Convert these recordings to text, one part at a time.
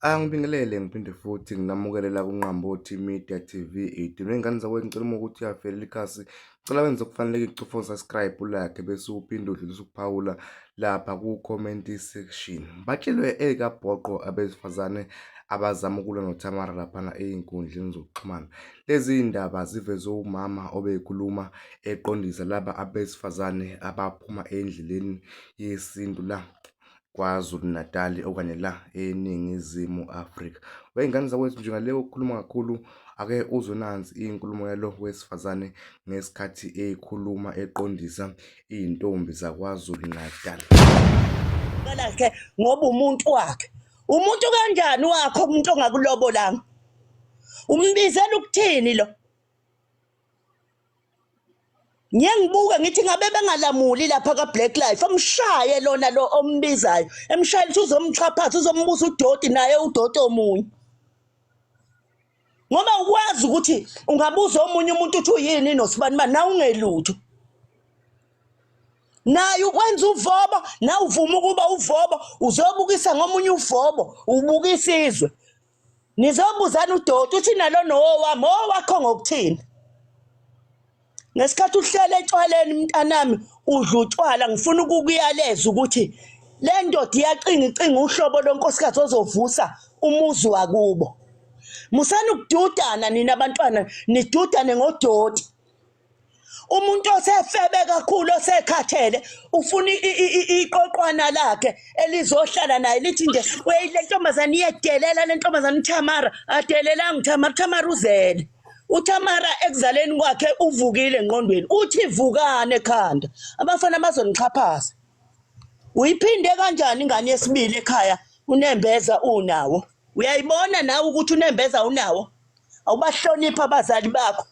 Angibingelele ngiphinde futhi nginamukele la kuNqambothi Media TV. Idinwe ingane zakwethu ngicela uma ukuthi uyavelela ikhasi. Ngicela wenze okufaneleke icufa subscribe ulakhe bese uphinde udlulisa ukuphawula lapha ku-comment section. Batshelwe ekabhoqo abesifazane abazama ukulwa noThamara laphana ezinkundleni zokuxhumana. Lezi iy'ndaba zivezwe umama obekhuluma eqondisa laba abesifazane abaphuma endleleni yesintu la KwaZulu-Natali okanye la eNingizimu Afrika. Wey'ngane zakwethu nje ngale okukhuluma kakhulu ake uzwe nansi inkulumo yalo wesifazane ngesikhathi eyikhuluma eqondisa iy'ntombi zaKwaZulu-Natal. Lakhe ngoba umuntu wakhe umuntu kanjani wakho umuntu ongakulobolanga umbizela ukuthini lo ngiye ngibuke ngithi ngabe bengalamuli lapha ka-black life amshaye lona lo ombizayo emshayela ukuthi uzomxhaphaza uzombusa udoti naye udoti omunye ngoba ukwazi ukuthi ungabuza omunye umuntu ukuthi uyini nosibani bani na ungelutho naye ukwenza uvobo na uvuma ukuba uvobo uzobukisa ngomunye uvobo ubukisa izwe Ngizobuzani udoti uthi nalo nowami owakho ngokuthini ngesikhathi uhlele etshwaleni mntanami udla utshwala ngifuna ukukuyaleza ukuthi le ndoda iyacinga icinga uhlobo lonkosikazi ozovusa umuzi wakubo musani ukududana nina bantwana nidudane ngodoti umuntu osefebe kakhulu osekhathele ufuna iqoqwana lakhe elizohlala naye lithi nje weyi le ntombazane iyedelela le ntombazane uthamara adelelanga uthamara uthamara uzele uthamara ekuzaleni kwakhe uvukile engqondweni uthi vukane ekhanda abafana bazonixhaphaza uyiphinde kanjani ingane yesibili ekhaya unembeza unawo uyayibona nawe ukuthi unembeza unawo awubahlonipha abazali bakho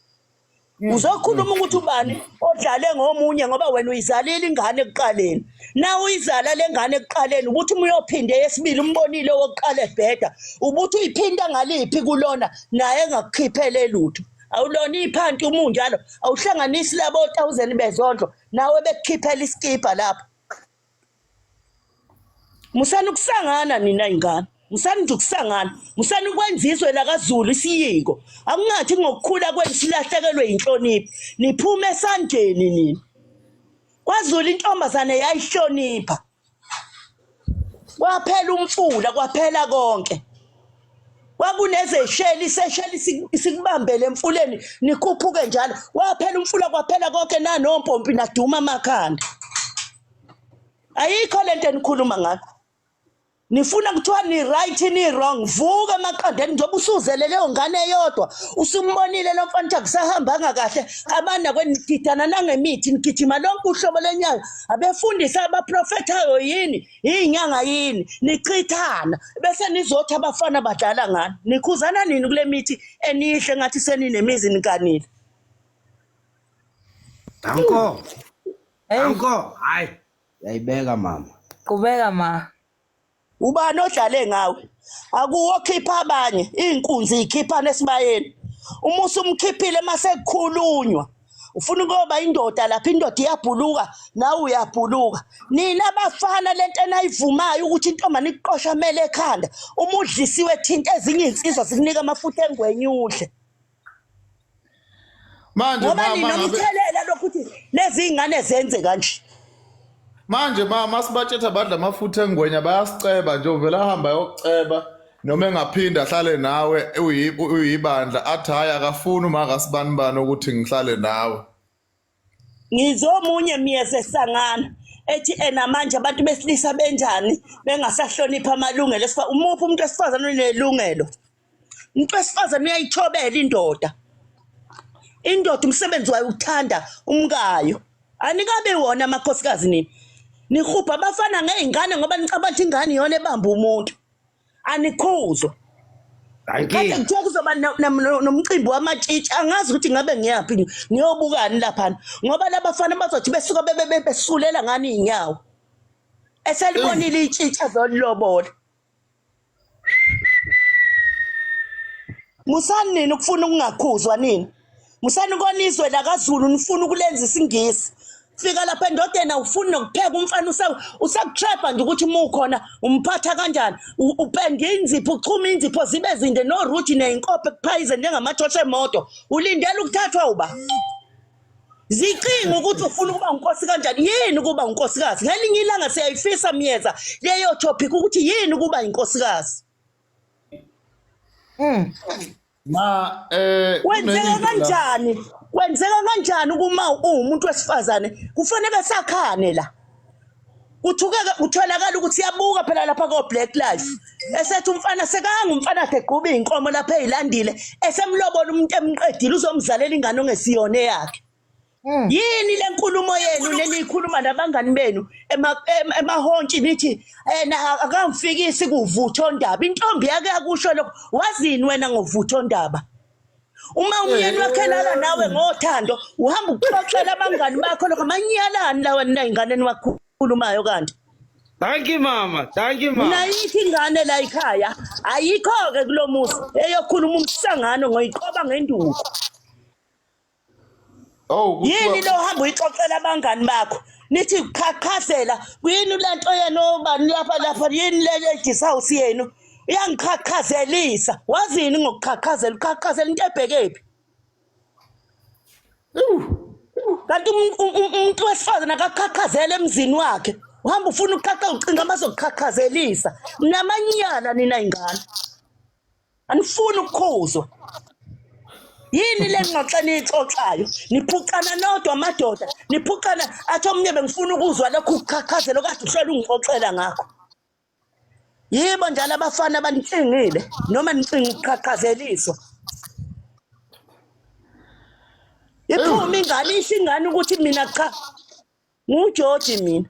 Mm, uzokhuluma mm. ukuthi ubani odlale ngomunye ngoba wena uyizalile ingane ekuqaleni na uyizala lengane ekuqaleni ukuthi uma uyophinde yesibili umbonile owokuqala ebheda ukuthi uyiphinda ngaliphi kulona naye engakukhiphele lutho awulona iphanti umunjalo awuhlanganisi labo 1000 bezondlo nawe bekukhiphela iskipha lapho musani ukusangana nina ingane musani nje ukusangana musani ukwenza izwe lakazulu isiyingo akungathi ngokukhula kwenu silahlekelwe yinhlonipho niphume esandleni nina kwazulu intombazane yayihlonipha kwaphela umfula kwaphela konke kwakunezesheli isesheli sikubambele emfuleni nikhuphuke njalo waphela umfula kwaphela konke nanompompi naduma amakhanda ayikho lento enikhuluma ngakho nifuna kuthiwa ni right ni wrong vuka emaqandeni njengoba usuzele leyo ngane eyodwa usumbonile lo mfana ukuthi akusahambanga kahle abana kwenigidana nangemithi nigijima lonke uhlobo lenyawo abefundisi abaprofethayo yini iyinyanga yini nichithana bese nizothi abafana badlala ngani nikhuzana nini kule mithi eniyihle ngathi seninemizi nikanile anko anko hayi yayibeka mama qhubeka ma ubani odlale ngawe akuwo khipha abanye iinkunzi ikhiphana esibayeni umusa umkhiphile masekukhulunywa ufuna ukuyoba indoda lapha indoda iyabhuluka nawe uyabhuluka nina bafana lento enayivumayo ukuthi intombane ikuqosha amele ekhanda uma udlisiwe thinta ezinye izinsizwa zikunika amafutha engwenye udle manje ngoba nina umthelela lokhu ukuthi lezi ngane zenze kanje manje ma masibatshetha badla amafutha engwenya bayasiceba nje uvela ahamba yokuceba noma engaphinde ahlale nawe uyi- uyibandla athi hhayi akafuni uma akasibani bani ukuthi ngihlale nawe ngizomunye myeze sangana ethi ena manje abantu besilisa benjani bengasahloniphi amalungelo esifa umuphi umuntu wesifazane onelungelo umuntu wesifazane uyayithobela indoda indoda umsebenzi wayo ukuthanda umkayo anikabe wona amakhosikazi nini nihubha abafana ngey'ngane ngoba nicabanga ukuthi ingane iyona ebamba umuntu anikhuzwa kade kuthiwa kuzoba nomcimbi wamatshitshi angazi ukuthi ngabe ngiyaphi ngiyobukani laphana ngoba labafana bazothi besuka besulela ngani iy'nyawo eselibonile itshitshi azolilobola musani nini ukufuna ukungakhuzwa nini musani konizwe lakazulu nifuna ukulenza isingisi fika lapha endodeni awufuni nokupheka umfana usakutrapha nje ukuthi uma ukhona umphatha kanjani upenda inzipho uchuma inzipho zibe zinde noruthi neyinkope kuphayizeni njengamajosha emoto ulindela ukuthathwa uba zicinga ukuthi ufuna ukuba unkosi kanjani yini ukuba unkosikazi ngelinye ilanga siyayifisa myeza leyo topic ukuthi yini ukuba inkosikazi mm. ma eh wenzeka kanjani wenzeka kanjani kuma uwumuntu wesifazane kufanele sakhane la kuthukeke kutholakala ukuthi yabuka phela lapha ko Black Life esethi umfana sekanga umfana akhe gquba izinkomo lapha ezilandile esemlobola umuntu emqedile uzomzalela ingane ongesiyone yakhe hmm. yini lenkulumo yenu neniyikhuluma nabangani benu emahontshi nithi ena eh, akamfikisi kuvutho ndaba intombi yake yakusho lokho wazini wena ngovutho ndaba uma umyeni wakho elala nawe ngothando uhamba ukuxoxela abangani bakho lokho amanyalani lawa nina ingane niwakhulumayo kanti Thank you mama, thank you mama. Nayithi ingane la ikhaya ayikho ke kulomuzi eyokhuluma umsangano ngoyiqoba ngenduku. Oh kuthiwa yini lo hamba uyixoxela abangani bakho nithi qhaqhazela kuyini le nto yenu obani lapha lapha yini le ladies house yenu iyangiqhaqhazelisa wazini ngokuqhaqhazela uqhaqhazela into ebhekephi kanti um- um- um- umuntu wesifazane akaqhaqhazela emzini wakhe uhamba ufuna ukuqhaqa ucinga amazokuqhaqhazelisa namanyala nina ingane anifuni ukukhuzwa yini le ngxoxo eniyixoxayo niphucana nodwa amadoda niphucana athi omunye bengifuna ukuzwa lokhu kuchachazelo kade uhlele ungixoxela ngakho yibo njalo abafana abanicingile noma nicinga ukuqhaqhazeliswa iphuma ingane isho ingane ukuthi mina cha Ngiwujoji mina.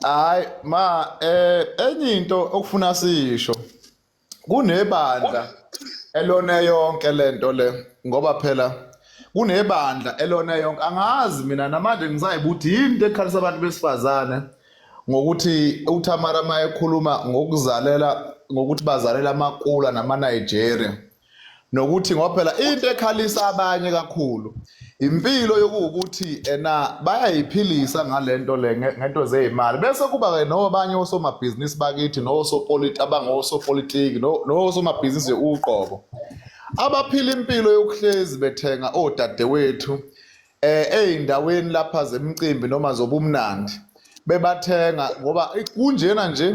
Hayi ma eh enye into okufuna sisho kunebandla elona yonke lento le ngoba phela kunebandla elona yonke angazi mina namanje ngisayibuthi yini into ekhalisa abantu besifazane ngokuthi uThamara mayekhuluma ngokuzalela ngokuthi bazalela amakula namaNigeria nokuthi ngoba phela into ekhalisa abanye kakhulu impilo yokuwukuthi ena bayayiphilisa ngalento le ngento zezimali bese kuba ke nobanye osomabhizinisi bakithi nosopoliti abangosopolitiki nosomabhizinisi uqobo abaphila impilo yokuhlezi bethenga odadewethu eh ezindaweni lapha zemicimbi noma zobumnandi bebathenga ngoba kunjena nje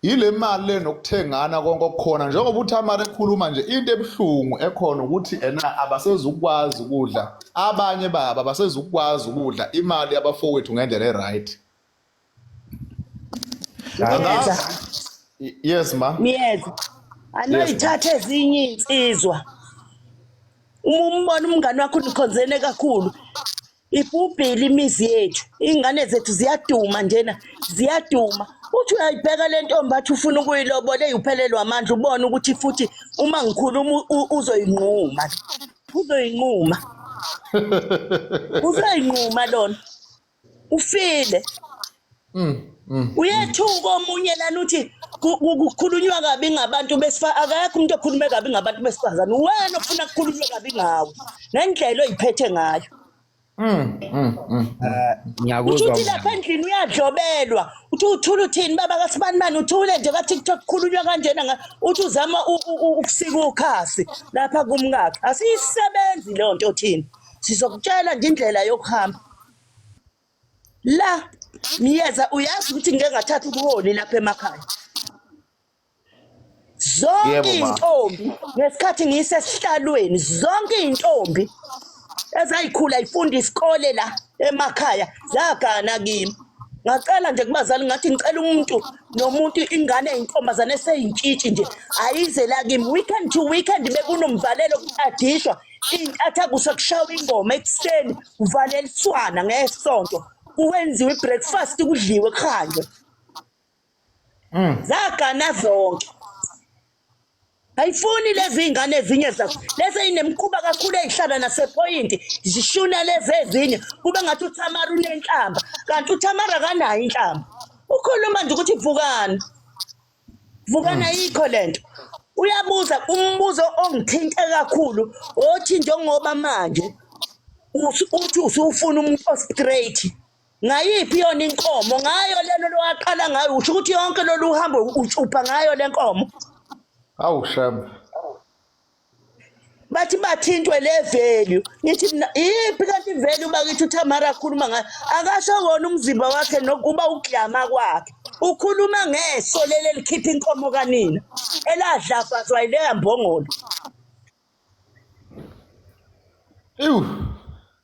yile mali le nokuthengana konke okukhona njengoba uthamara ekhuluma nje into ebuhlungu ekhona ukuthi ena abasezukwazi ukudla abanye baba abasezukwazi ukudla imali yabafowethu ngendlela e-right Niyeza. Y- Yes ma. Niyeza. Anoyithatha ezinye insizwa. Uma umbona umngane wakho nikhonzene kakhulu. Ibhubhile imizi yethu. Ingane zethu ziyaduma njena. Ziyaduma. Uthi uyayibheka le ntombi athi ufuna ukuyilobola eyuphelelwa amandla ubone ukuthi futhi uma ngikhuluma u- u- uzoyinquma. Uzoyinquma. Uzoyinquma lona. ufile Mm, mm. uyethuka omunye lana uthi ku- ku- kukhulunywa kabi ngabantu besifa akekho umuntu okhulume kabi ngabantu besifazane uwena ofuna kukhulunywe kabi ngawo ngendlela oyiphethe ngayo Mm, mm, mm. Eh, uthi ngiyakuzwa uthi lapha mama endlini uyadlobelwa uthi uthula uthini baba kasibanibani uthule nje katiktok kukhulunywa kanjena nga- uthi uzama u- u- u- ukusika ukhasi lapha kumkakhe asiyisebenzi leyo nto othini sizokutshela nje indlela yokuhamba la miyeza uyazi ukuthi ngike ngathatha ubuholi lapha emakhaya zonke Yebo, ma. iy'ntombi ngesikhathi ngiyisesihlalweni zonke iy'ntombi ezayikhula ifunda isikole la emakhaya zagana kimi ngacela nje kubazali ngathi ngicela umuntu nomuntu ingane eyintombazane eseyintshitshi nje ayize la kimi weekend to weekend bekunomvalelo adishwa iy'ntatha kusekushawa ingoma ekuseni kuvaleliswana ngesonto kuwenziwe i-breakfast kudliwe kuhanjwe hmm. zagana zonke ayifuni lezi iy'ngane ezinye zazo lezi eyinemkhuba kakhulu eyihlala nasephoyinti zishuna lezi ezinye kube ngathi uthamara unenhlamba kanti uthamara akanayo inhlamba ukhuluma nje ukuthi vukani vukana hmm. yikho lento uyabuza umbuzo ongithinta kakhulu othi njengoba manje uthi usufuna umuntu ostraight ngayiphi yona inkomo ngayo lelo lowaqala ngayo usho ukuthi yonke lolu uhambo utshupha ngayo lenkomo awu shaba bathi bathintwe le value ngithi mina iphi kanti ivalue bakithi uthamara akhuluma ngayo akasho wona umzimba wakhe nokuba uklama kwakhe ukhuluma ngeso leli elikhipha inkomo kanina eladlafazwa yileya mbongolo Ewu.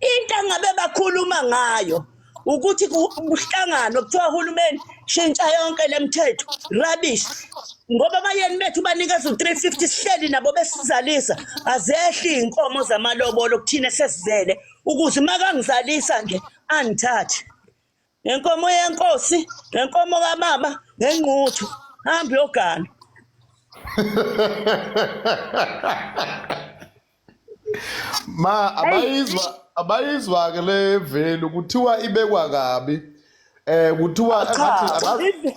into angabe bakhuluma ngayo ukuthi kuhlangano kuthiwa uhulumeni shintsha yonke lemthetho rubbish ngoba abayeni bethu banikeza u350 sihleli nabo besizalisa azehli inkomo zamalobolo kuthina sesizele ukuze makangizalisa nje angithathe ngenkomo yenkosi ngenkomo kamama ngengquthu hamba uyogana ma abayizwa abayizwa ke le velu kuthiwa ibekwa kabi eh kuthiwa engathi abazi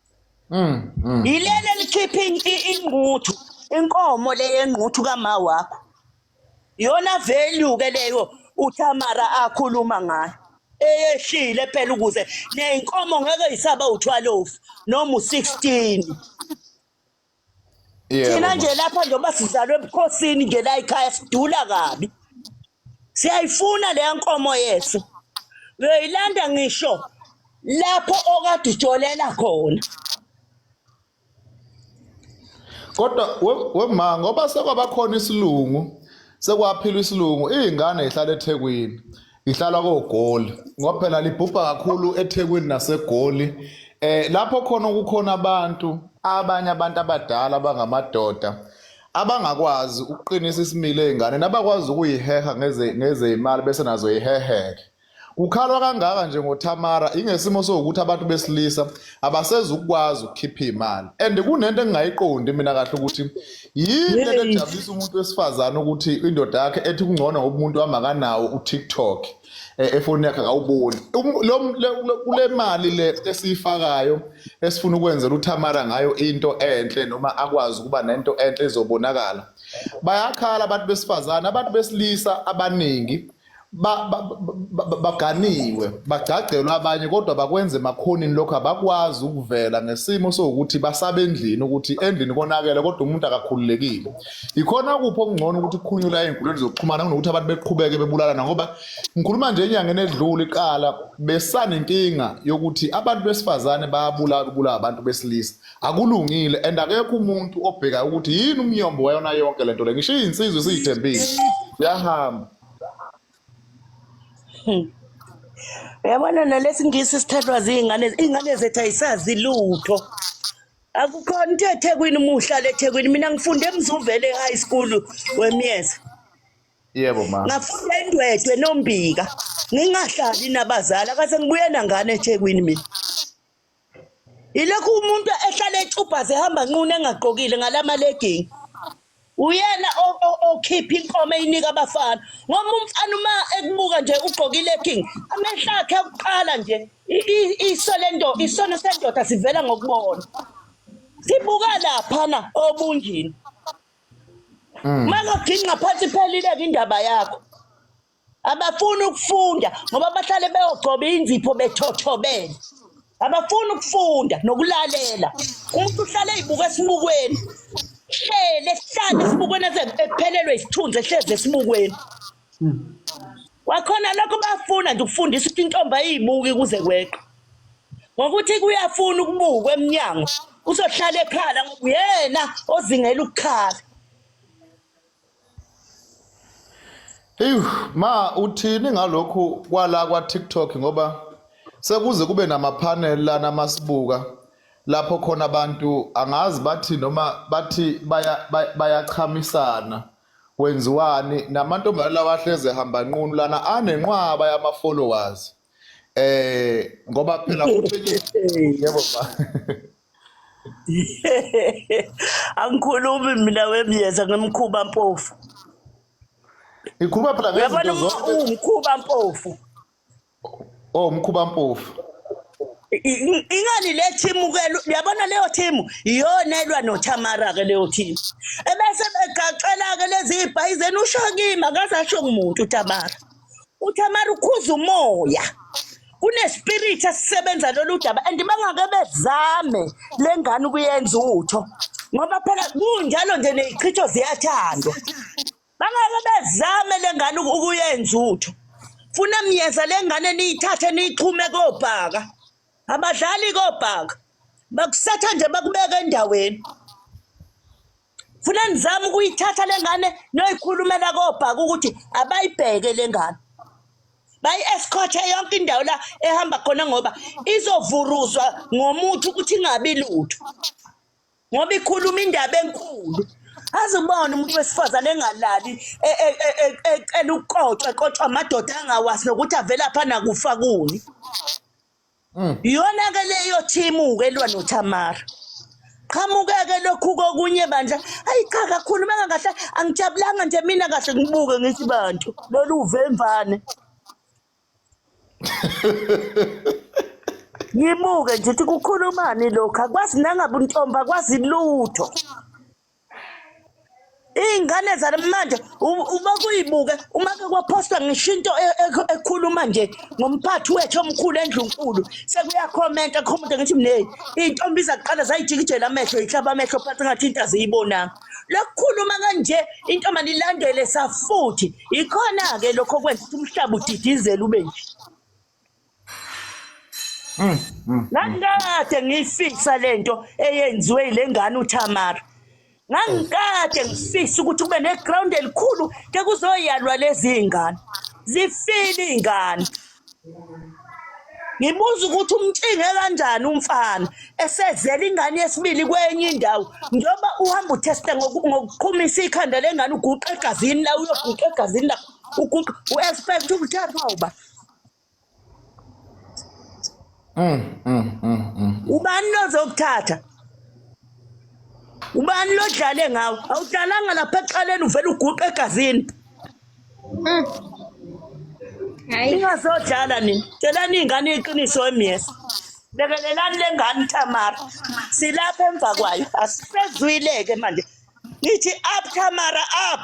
yileli elikhipha ingquthu inkomo le yengquthu kama wakho yona value ke leyo uThamara akhuluma ngayo eyehlile phela ukuze neyinkomo ngeke yisaba uthwalofu noma u16 Yebo, thina nje mama. lapha njengoba sizalwe ebukhosini nje la ekhaya sidula kabi siyayifuna leya nkomo yethu uyoyilanda ngisho lapho okade ujolela khona Kodwa we- wema ngoba sekwabakhona isilungu sekwaphilwa isilungu iy'ngane y'hlala ethekwini Ihlala koGoli ngoba phela libhubha kakhulu eThekwini naseGoli eh lapho khona kukhona abantu abanye abantu abadala abangamadoda abangakwazi ukuqinisa isimilo ezingane nabakwazi ukuyiheha ngeze ngezeyimali bese nazo yiheheke kukhalwa kangaka nje ngoThamara ingesimo sokuthi abantu besilisa abasezukwazi ukukhipha imali and kunento engingayiqondi mina kahle ukuthi yini lento ejabulisa umuntu wesifazane ukuthi indoda yakhe ethi kungcono ngoba umuntu wami akanawo utiktok eh, efoni yakhe akawuboni um, kule mali le esiyifakayo esifuna ukwenzela uthamara ngayo into enhle noma akwazi ukuba nento enhle ezobonakala bayakhala abantu besifazane abantu besilisa abaningi baganiwe bagcagcelwe abanye kodwa bakwenze emakhonini lokho abakwazi ukuvela ngesimo sokuthi basaba endlini ukuthi endlini konakele kodwa umuntu akakhululekile ikhona kuphi okungcono ukuthi kukhunyula ey'nkundleni zokuxhumana kunokuthi abantu beqhubeke bebulalana ngoba ngikhuluma nje enyangeni edlula iqala besanenkinga yokuthi abantu besifazane bayabulawa kubulawa abantu besilisa akulungile and akekho umuntu obhekayo ukuthi yini umnyombo wayona yonke le nto le ngisho iyinsizwa isiyithembile yahamba hmm. uyabona nalesingisi sithathwa ziyingane iy'ngane zethu ayisazi lutho akukhona into ethekwini uma uhlala ethekwini mina ngifunde emzuvele e-high school wemyeza yebo ma ngafunda indwedwe nombika ngingahlali nabazali akase ngibuye nangane ethekwini mina Ilokhu umuntu ehlale echubhaze ehamba nqunu engagqokile ngalama legging. Uyena o- o- okhipha inkomo eyinika abafana. Ngoba umfana uma ekubuka nje ugqoke ilegging, amehlo akhe akuqala nje. I- i- Iso lento, isono sendoda sivela ngokubona. Sibuka lapha na obunjini. Uma ngagingqa phansi iphelile ke indaba yakho. abafuni ukufunda ngoba bahlale beyogcoba inzipho bethothobele abafuni ukufunda nokulalela umuntu uhlale eyibuka esibukweni hlele sihlale esibukweni ephelelwe isithunzi ehlezi esibukweni kwakhona lokho bafuna nje ukufundisa ukuthi intombi ayibuki kuze kweqe ngokuthi kuyafuna ukubukwa emnyango uzohlala ekhala ngoba uyena ozingela ukukhala Eyu ma uthini ngalokhu kwala kwa TikTok ngoba sekuze kube nama panel lana masibuka lapho khona abantu angazi bathi noma bathi baya baya- bayachamisana kwenziwani namantombazane lawa ahleze hamba nqunu lana anenqwaba yama followers eh ngoba phela kutshengiswa yebo ma angikhulumi mina wemyeza ngimkhuba mpofu ikhuluma phela uyabona ngezinto zonke umkhuba mpofu oh umkhuba mpofu I- i- ingani le thimu ke lu- uyabona leyo thimu iyona elwa nothamara ke leyo thimu ebese begaxela ke lezi ibhayi zenu usho kimi akaze asho kumuntu uthamara uthamara ukhuza umoya kunespirit esisebenza lolu daba and bangake bezame le ngane ukuyenza utho ngoba phela kunjalo nje nezichitho ziyathandwa bangake bezame le ngane uku- ukuyenza utho funa myeza le ngane niyithathe niyixhume kobhaka abadlali kobhaka bakusetha nje bakubeke endaweni funa nizama ukuyithatha le ngane noyikhulumela kobhaka ukuthi abayibheke le ngane bayi-escorte yonke indawo la ehamba khona ngoba izovuruzwa ngomuthi ukuthi ingabi lutho ngoba ikhuluma indaba enkulu azibone umuntu wesifazane engalali e, e, e, ecela ukukotshwa ekotshwa amadoda angawazi nokuthi avelapha nakufa kuni iyona ke leyo thimu ke elwa noThamara qhamukeke lokhu kokunye bandla ayi cha kakhulu mangakahle angijabulanga nje mina kahle ngibuke ngithi bantu lolu uvemvane ngibuke nje ukuthi kukhulumani lokhu akwazi nangabe untombi akwazi lutho iy'ngane zanamanje uma kuyibuke uma kwaphosta ngisho into e, e, ekhuluma nje ngomphathi wethu omkhulu endlunkulu sekuyakhomenta kho umuntu ngithi mneyi iy'ntombi zakuqala zayijikijela amehlo yihlaba amehlo phansi ngathi into aziyibonanga lokukhuluma kanje intombani ilandele safuthi yikhona-ke lokho kwenza ukuthi umhlaba udidizele ube nje Mm, mm, ngangikade mm. ngiyifisa lento eyenziwe ile ngane uThamara ngangikade ngifisa ukuthi kube neground elikhulu ke kuzoyalwa lezi iy'ngane zifile iy'ngane ngibuza ukuthi umtshinge kanjani umfana esezela ingane yesibili kwenye indawo njengoba uhamba utheste ngokuqhumisa ikhanda lengane uguqa egazini la uyoguqa egazini la uguqa u-expect ukuthathwa uba Mm, mm, mm, mm. ubani lozokuthatha ubani lodlale ngawo awudlalanga lapha exaleni uvele uguqe egazini Mm. Hayi. ningasodlala nini tshelani iy'ngane iqiniso emyesa lekelelani le ngane tamara silapha emva kwayo asisezwile-ke manje ngithi up tamara up